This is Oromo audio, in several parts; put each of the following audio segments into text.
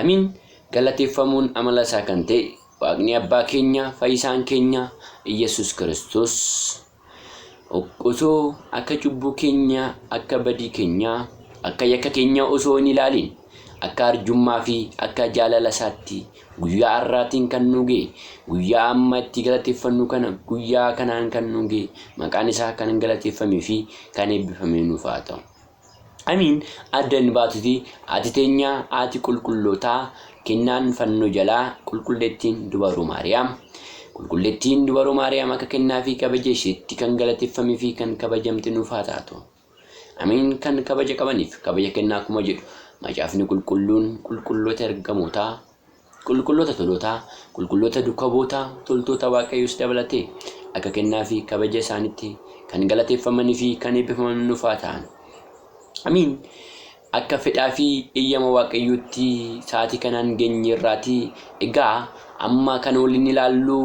Amiin galateeffamuun amala isaa kan ta'e waaqni abbaa keenya fayyisaan keenya Iyyasuus Kiristoos osoo akka cubbuu keenya akka badii keenya akka yakka keenya osoo hin ilaaliin akka arjummaa fi akka jaalala isaatti guyyaa har'aatiin kan nu ga'e guyyaa amma itti galateeffannu kana guyyaa kanaan kan nu ga'e maqaan isaa kan galateeffamee fi kan eebbifamee nuuf haa ta'u. Amiin adda hin baatuti ati teenya haati qulqullootaa kennaan fannoo jalaa qulqulleettiin dubaruu maariyaam qulqulleettiin dubaruu maariyaam akka kennaa fi kabaja isheetti kan galateeffamee fi kan kabajamte nuuf haa taatu amiin kan kabaja qabaniif kabaja kennaa akkuma jedhu macaafni qulqulluun qulqulloota ergamootaa Qulqulloota tolootaa, qulqulloota dukabootaa, toltoota Waaqayyoos dabalatee, akka kennaa fi kabaja isaanitti kan galateeffamanii fi kan eebbifaman nuuf haa ta'an. Amiin. Akka fedhaa fi eeyyama Waaqayyootti sa'aatii kanaan geenyeerraati. Egaa amma kan waliin ilaallu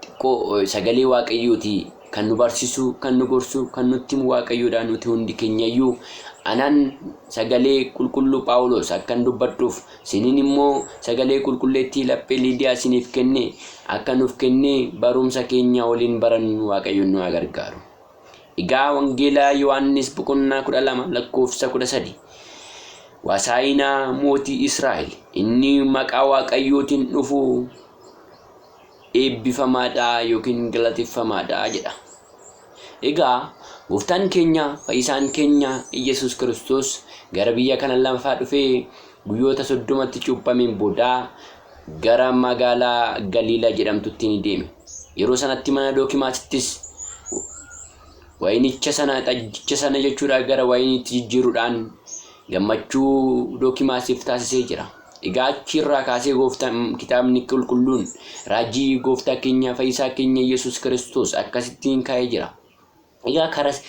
xiqqoo sagalee waaqayyooti kan nu barsiisu kan nu gorsu kan nutti himu waaqayyoodha nuti hundi keenyayyuu anaan sagalee qulqulluu phaawulos akkan dubbadhuuf sinin immoo sagalee qulqulleettii laphee liidiyaa siniif kenne akka nuuf kenne barumsa keenya waliin barannu waaqayyoon nu haa gargaaru egaa wangeelaa yohaannis boqonnaa kudha lama lakkoofsa kudha sadi wasaayinaa mootii israa'el inni maqaa waaqayyootiin dhufu eebbifamaadha yookiin galateeffamaadha jedha. Egaa gooftaan keenya fayyisaan keenya Iyyasuus Kiristoos gara biyya kana lafaa dhufee guyyoota soddomatti cuuphameen booda gara magaalaa Galiilaa jedhamtutti ni deeme. Yeroo sanatti mana Dookimaasittis Wayinicha sana, xajjicha sana jechuudha gara wayiniitti jijjiiruudhaan gammachuu Dookimaasiif taasisee jira. Egaa achi irraa kaasee gooftaan kitaabni qulqulluun raajii gooftaa keenya fayyisaa keenya Yesuus Kiristoos akkasittiin kaa'ee jira. Egaa karas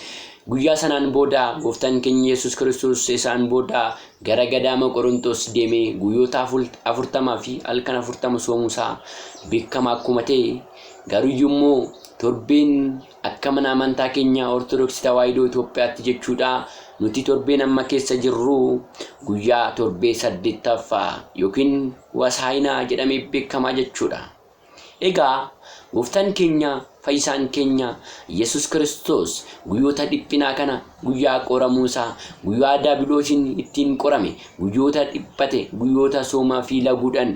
guyyaa sanaan booda gooftaan keenya Yesuus Kiristoos isaan booda gara gadaama Qorontos deemee guyyoota afurtamaa fi halkan afurtama soomuusaa beekama akkuma ta'e garuyyuu immoo torbeen Akka mana amantaa keenya Ortodoksii Tawaahidoo Itoophiyaatti jechuudha nuti torbeen amma keessa jirru guyyaa torbee saddeettaffaa yookiin Wasaayinaa jedhamee beekamaa jechuudha. Egaa gooftaan keenya fayyisaan keenya Yesus Kiristoos guyyoota dhiphinaa kana guyyaa qoramuu isaa guyyaa daabiloosiin ittiin qorame guyyoota dhiphate guyyoota soomaa fi laguudhaan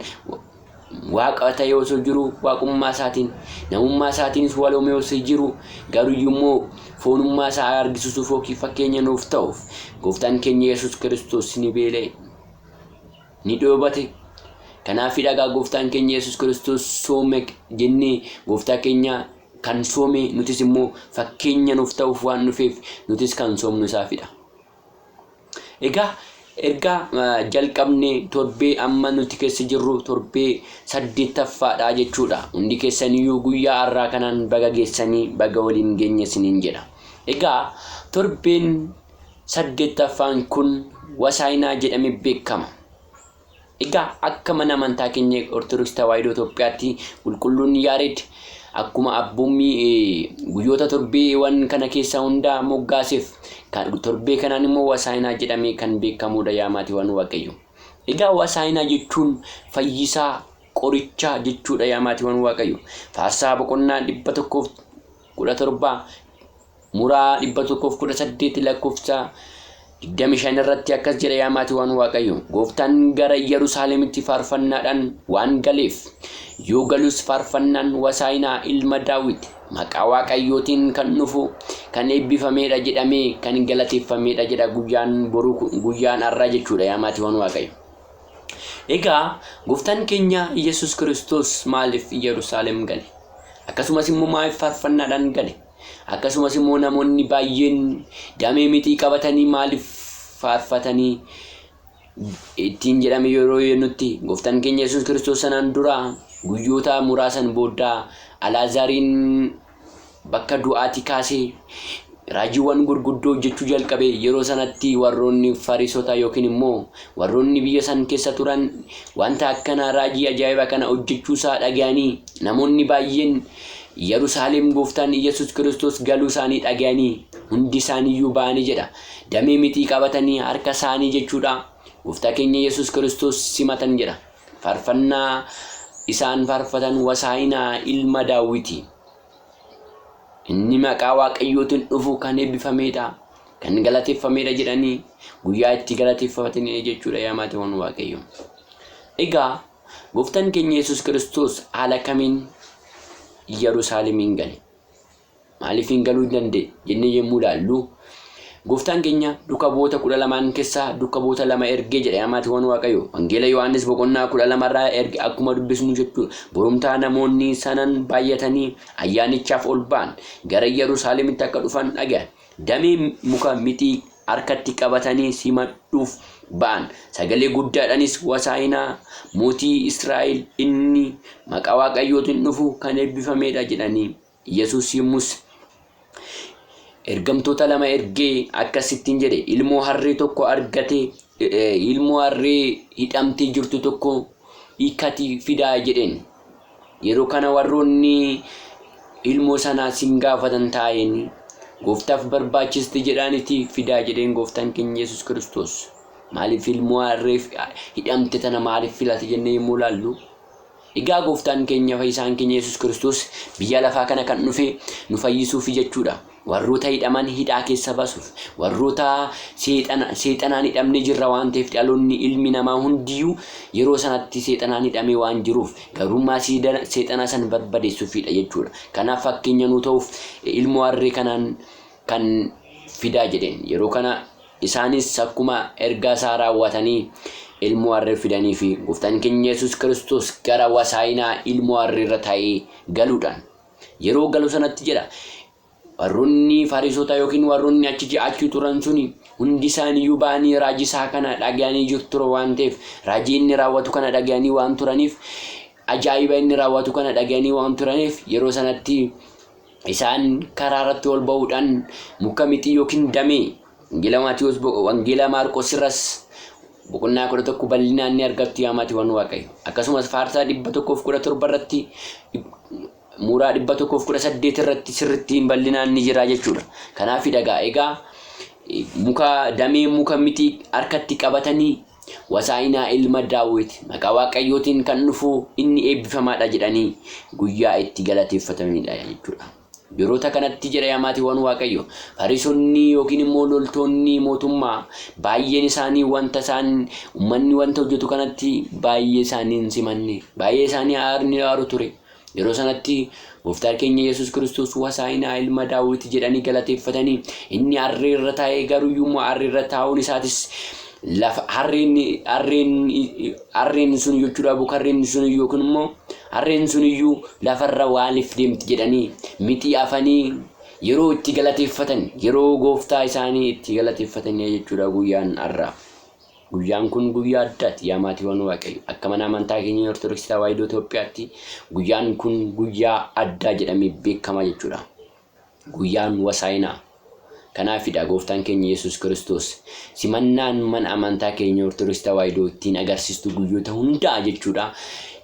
Waaqa ta'ee osoo jiru waaqummaa isaatiin, namummaa isaatiinis waloomee osoo jiru, garuyyuu immoo foonummaa isaa argisiisuuf yookiin fakkeenya nuuf ta'uuf gooftaan keenya Yesuus Kiristoos ni beela'e, ni dheebate. Kanaafidha egaa gooftaan keenya Yesuus Kiristoos soome jennee gooftaa keenya kan soome nutis immoo fakkeenya nuuf ta'uuf waan dhufeef nutis kan soomnu isaafidha. Egaa erga jalqabnee torbee amma nuti keessa jirru torbee saddeettaffaadha jechuudha. Hundi keessaniyyuu guyyaa har'aa kanaan baga geessanii baga waliin geenye isiniin jedha. Egaa torbeen saddeettaffaan kun wasaayinaa jedhame beekama. Egaa akka mana amantaa keenya Ortodoksii Tawaahidoo Itoophiyaatti qulqulluun Yaareed akkuma abboommii guyyoota torbeewan kana keessa hundaa moggaaseef torbee kanaan immoo Wasaayinaa jedhamee kan beekamuudha yaa maatiiwwan Waaqayyo. Egaa Wasaayinaa jechuun fayyisaa qoricha jechuudha yaa maatiiwwan Waaqayyo. Faarsaa boqonnaa 117 Muraa 118 lakkofsa 25 irratti akkas jedha yaa maatiiwwan Waaqayyo gooftaan gara Yerusaalemitti faarfannaadhaan waan galeef yoo galus faarfannaan wasaayinaa ilma daawwit maqaa Waaqayyootiin kan dhufu kan eebbifameedha jedhamee kan galateeffameedha jedha guyyaan boruu guyyaan har'aa jechuudha yaa maatiiwwan Waaqayyo. Egaa gooftaan keenya Yesus Kiristoos maaliif Yerusaalem gale? Akkasumas immoo maaliif faarfannaadhaan gale? Akkasumas immoo namoonni baay'een damee mixii qabatanii maaliif faarfatanii ittiin jedhame yeroo nutti gooftaan keenya Yesuus Kiristoos sanaan dura guyyoota muraasan booda Alaazaariin bakka du'aati kaasee raajiiwwan gurguddoo hojjechuu jalqabe yeroo sanatti warroonni fariisota yookiin immoo warroonni biyya san keessa turan wanta akkanaa raajii ajaa'iba kana hojjechuu isaa dhaga'anii namoonni baay'een Yerusaalem Gooftaan Iyyesuus Kiristoos galuu isaanii dhagayanii hundi isaanii iyyuu ba'anii jedha. Damee mixii qabatanii harka isaanii jechuudha Gooftaa keenya Iyyesuus Kiristoos simatan jedha. Farfannaa isaan farfatan wasaayinaa ilma daawwiti. Inni maqaa waaqayyootiin dhufu kan eebbifameedha. Kan galateeffameedha jedhanii guyyaa itti galateeffatanii jechuudha yaa maatiiwwan waaqayyo. Egaa Gooftaan keenya Yesuus Kiristoos haala kamiin Yerusaalemiin gale? Maaliifiin galuu hin danda'e jennee yommuu ilaallu Gooftaan keenya duka bu'oota kudha lamaan keessaa duka bu'oota lama ergee jedha amaatiiwwan Waaqayyo. Wangeela Yohaannis boqonnaa kudha lamarraa erge akkuma dubbisnu jechuudha. Borumtaa namoonni sanan baay'atanii ayyaanichaaf ol ba'an gara Yerusaalemitti akka dhufan dhaga'an. Damee muka mixii harkatti qabatanii simadhuuf ba'an, sagalee guddaadhaanis Wasaayinaa, Mootii Israa'el, inni maqaa Waaqayyootiin dhufu kan eebbifamee dha jedhanii. Yesuus yommus ergamtoota lama ergee akkas ittiin jedhe, Ilmoo harree tokko argatee, ilmoo harree hidhamtee jirtu tokko hiikkatii fidaa jedheen. Yeroo kana warroonni ilmoo sanaa sin gaafatan taa'een gooftaaf barbaachisti jedhaaniti fidaa jedheen gooftaan keenya Yesuus Kiristoos. Maaliif ilmoo harreef hidhamte tana maaliif filate jennee yommuu ilaallu Egaa gooftaan keenya fayyisaan keenya Yesuus Kiristoos biyya lafaa kana kan dhufe nu fayyisuufi jechuudha. Warroota hidhaman hidhaa keessa basuuf, warroota seexana, seexanaan hidhamne jirra waan ta'eef dhaloonni ilmi namaa hundiyyuu yeroo sanatti seexanaan hidhamee waan jiruuf gabrummaa siida- seexanaa san barbadeessuufiidha jechuudha. Kanaaf fakkeenya nuu ta'uuf eh, ilmoo harree kanaan kan fidaa jedheen. Yeroo kana isaanis akkuma ergaa isaa raawwatanii ilmoo harree fidaniifi. Gooftaan keenya Yesuus Kiristoos gara wasaayinaa ilmoo harree irra taa'ee galuudhaan Yeroo galu sanatti jedha, warronni Fariisotaa yookiin warronni achi ji'aachuu turan suni hundi isaaniyyuu ba'anii raajii isaa kana dhaga'anii jiru ture waan ta'eef raajii inni raawwatu kana dhaga'anii waan turaniif ajaa'iba inni raawwatu kana dhaga'anii waan turaniif yeroo sanatti isaan karaa irratti ol ba'uudhaan muka mixii yookiin damee Wangeela Maatiwoos boqo Wangeela Maarqoos irras boqonnaa 11 bal'inaan ni argattu yaa maatiiwwan Waaqayyo. Akkasumas faarsaa 117 irratti muuraa 118 irratti sirrittiin bal'inaan ni jira jechuudha. Kanaaf dhagaa egaa muka damee muka miti harkatti qabatanii wasaa'inaa ilma daawwit maqaa waaqayyootiin kan dhufu inni eebbifamaadha jedhanii guyyaa itti galateeffatamidha jechuudha. Yeroota kanatti jedha yaa maatiiwwan Waaqayyo, Fariisonni yookiin immoo loltoonni mootummaa baay'een isaanii wanta isaan ummanni wanta hojjetu kanatti baay'ee isaanii hin simanne, baay'ee isaanii aarni aaru ture. Yeroo sanatti Gooftaa keenya Yesuus Kiristoos Wasaa'inaa ilma Daawwiti jedhanii galateeffatanii inni harree irra taa'ee garuu immoo harree irra taa'uun isaatis lafa harreen harreen Harreen sun yochuu dhaabuk harreen sun iyyuu yookiin immoo harreen sun iyyuu lafarra waaliif deemti jedhanii mitii afanii yeroo itti galateeffatan yeroo gooftaa isaanii itti galateeffatanii jechuudha guyyaan har'a. Guyyaan kun guyyaa addaati yaa maatiiwwan waaqayyo akka mana amantaa keenya Ortodoksii Tawaahidoo Itoophiyaatti guyyaan kun guyyaa addaa jedhamee beekama jechuudha. Guyyaan Wasaayinaa kanaafidha Gooftaan keenya Yesuus Kiristoos simannaan mana amantaa keenya Ortodoksii Tawaahidoo ittiin agarsiistu guyyoota hundaa jechuudha.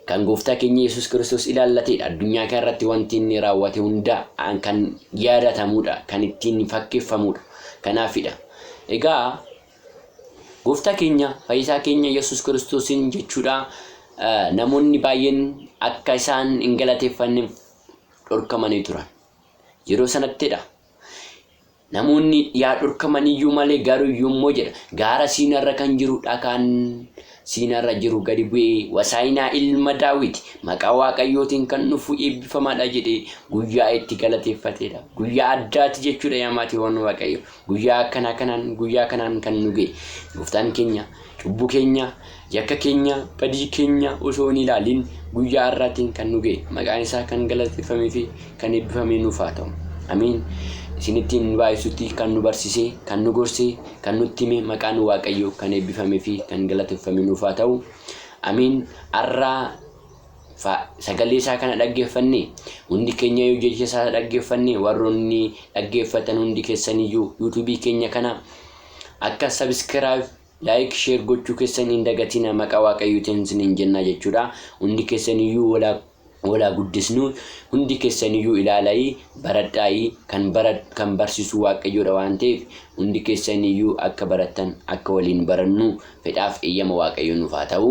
Kan Gooftaa keenya Yesuus Kiristoos ilaallateedha. Addunyaa kana irratti wanti inni raawwate hundaa kan yaadatamuudha, kan ittiin fakkeeffamuudha. Kanaafidha. Egaa Gooftaa keenya fayyisaa keenya Yesuus Kiristoosiin jechuudha namoonni baay'een akka isaan hin galateeffanneef dhorkamanii turan. Yeroo sanattidha. Namoonni yaa dhorkamaniyyuu malee garuu yommuu jedha gaara siinarra kan jiru dhakaan siinarra jiru gadi bu'ee wasaayinaa ilma daawwiti maqaa waaqayyootiin kan dhufu eebbifamaadha jedhee guyyaa itti galateeffatedha. Guyyaa addaati jechuudha yaa maatiiwwan waaqayyo. Guyyaa akkanaa kanaan guyyaa kanaan kan nu ga'e gooftaan keenya cubbuu keenya yakka keenya badii keenya osoo hin ilaaliin guyyaa har'aatiin kan nu ga'e maqaan isaa kan galateeffamee fi kan eebbifamee nuuf haa ta'u amiin isinittiin baay'isutti kan nu barsiise kan nu gorse kan nutti hime maqaan waaqayyoo kan eebbifamee fi kan galateeffamee nuuf haa ta'u amiin har'aa fa sagalee isaa kana dhaggeeffanne hundi keenyayyuu jecha isaa dhaggeeffanne warroonni dhaggeeffatan hundi keessaniyyuu yuutuubii keenya kana akka sabiskiraayib laayik sheer gochuu keessan hin dagatina maqaa waaqayyootiin isiniin jennaa jechuudha hundi keessaniyyuu walaa walaa guddisnu hundi keessaniyyuu ilaala'ii baradhaa'ii kan bara kan barsiisu waaqayyoodha waan ta'eef hundi keessaniyyuu akka barattan akka waliin barannu fedhaaf eeyyama waaqayyoo nuuf haa ta'u